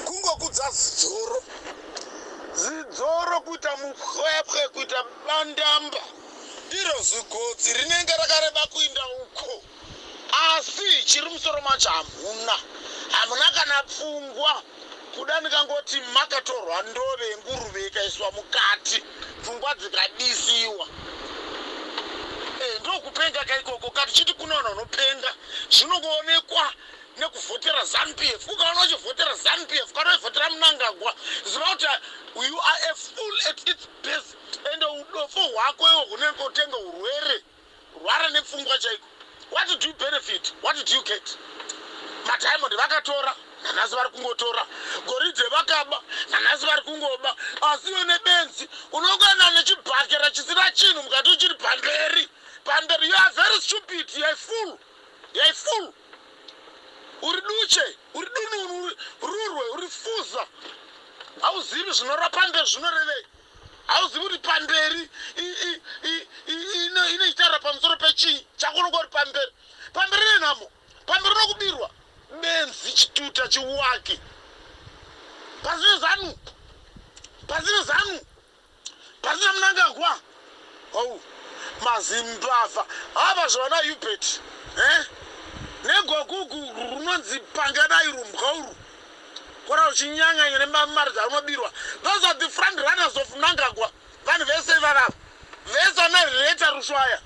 kungokudza zidzoro zidzoro kuita mupwepwe kuita bandamba iro zigotsi rinenge rakareba kuinda uko asi chiri musoro macho hamuna hamuna kana pfungwa kuda ndikangoti makatorwa ndove yenguruve ikaiswa mukati pfungwa dzikadisiwa eh, ndokupenga kaikoko kati chiti kunoona unopenga zvinongoonekwa nekuvhotera zanupf ukaona uchivhotera zanupf kana uivhotera munangagwa ziva kuti you are a full at its best ende udofo hwako iwo hunenge utenge urwere rwara nepfungwa chaiko what did you benefit what did you get madiamond vakatora nanhasi vari kungotora goridhe vakaba nanhasi vari kungoba asi iwe nebenzi unokwana nechibhakera chisina chinhu mukati uchiri pamberi pamberi you are very stupid you are full you are full uri duche uri dununu uri rurwe uri fuza hauzivi zvinorapa mberi zvinorevei hauzivi kuti pamberi inoitaura pamusoro pechii chakunonga uri pamberi pamberi nenhamo pamberi nokubirwa benzi chituta chiwaki pasine zanu pasine zanu Pasina Mnangagwa, oh, mazimbavha ava zvavana Hubert eh? negogugu runonzi pangadai rumbwa urwu kora uchinyanganya nemamari dzaunobirwa those are the front runners of Mnangagwa vanhu vese ivavava vese vanareta rushwaya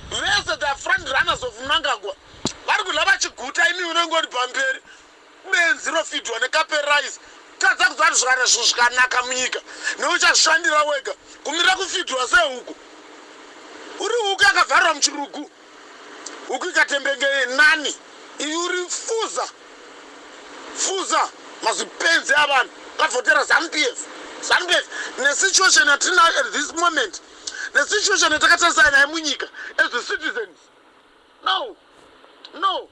vese the front runners of Mnangagwa vari kudla vachiguta imi unenge uri pamberi benzi rofidwa nekaperise tadza kuziva kuti zvivana zvinhu zvikanaka munyika neuchazvishandira wega kumira kufidwa sehuku uri huku yakavharirwa muchirugu huku ikatembenge nani iyi uri fuza fuza mazipenzi avanhu kavhotera zampf zampf nesituation yatina at this moment nesituation yatakatarisana naye munyika as a citizens No. No.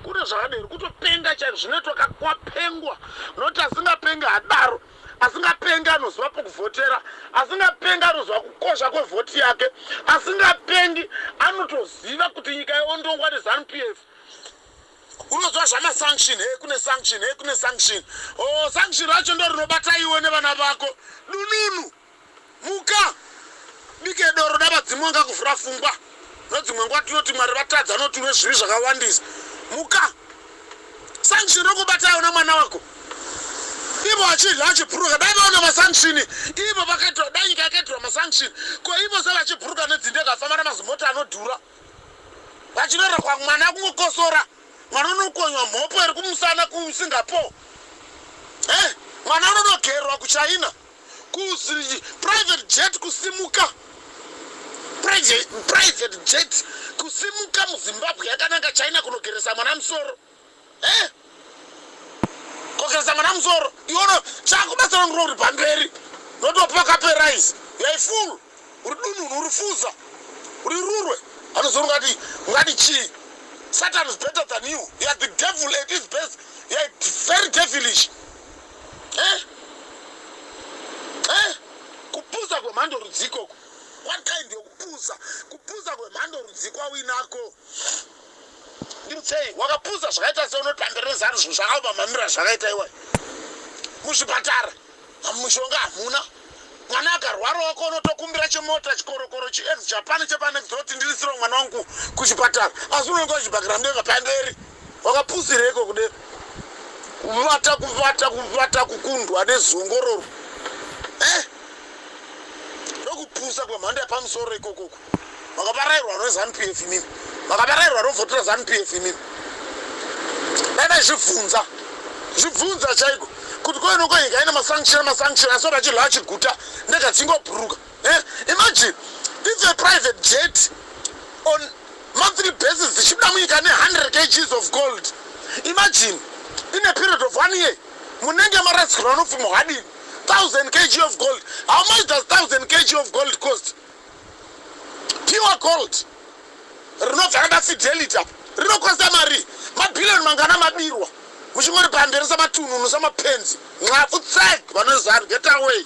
Kune zvakadero kutopenga chaiko zvinoitwa kakwapengwa noti asingapenga hadaro asingapenga anoziva pokuvhotera asingapenga anoziva kukosha kwevhoti yake asingapengi anotoziva kuti nyika yondongwa nezanup f unoziva zvamasanction he kune sanction he kune sanction o oh, sanction racho ndo rinobata iwe nevana vako dununu muka bike doro da vadzimu wanga kuvhura fungwa nodzimwe nguva tinoti mwari vatadza noti une zvivi zvakawandisa muka sanction rokubata aona mwana wako ivo vachidya vachipuruka dai vaona masanction ivo vakaitwa dai nyika yakaitirwa masanction ko ivo se vachipuruka nedzinde kafamba namazimota anodhura vachinorera kwa mwana kungokosora mwana unokonywa mhopo iri kumusana kusingapore mwana anonogerwa kuchina kuzri private jet kusimuka private jet kusimuka muzimbabwe yakananga china kunogeresa mwana musoro e kogeresa mwana musoro iwono chakubatsira ndirori pamberi notopa kaperise yaifulu uri dununu uri fuza uri rurwe anozonga ati ungati chii satan is better than you you are the devil at his best you are very devilish eh? Eh? kupuza kwemhando rudzikoko what kind yokupuza kupuza kwemhando rudzikwa winako ndimutsei wakapuza zvakaita seunoti pamberi rezanu zvinhu zvakaoma mamira zvakaita iwayo muzvipatara mushonga hamuna mwana akarwara wako unotokumbira chemota chikorokoro chiex japan chepanext oti ndirisiro mwana wangu kuchipatara asi unenge uchibhakira mbeva pamberi wakapusireko kude kuvata kuvata kuvata kukundwa nezongororo eh? ndokupusa kwemhando yapamusoro ikokoko makavarairwa rezanu pf imimi makavarairwa rovhotera zanu pf imimi dai vaizvibvunza zvibvunza chaiko kuti koinoko nyika ine masanction amasanction asi oti achirwa achiguta ndega dzingobhuruka eh, imagine if a private jet on monthly basis dzichibuda munyika ne100 kgs of gold imagine in a period of one year munenge marasikirwa nopfuma hwadini 1000 kg of gold how much does 1000 kg of gold cost pure gold rinobva rana fidelity apo rinokosta mari mabhiriyoni mangana mabirwa muchingori pamberi samatununu samapenzi nxapfu tsek vanozanu get away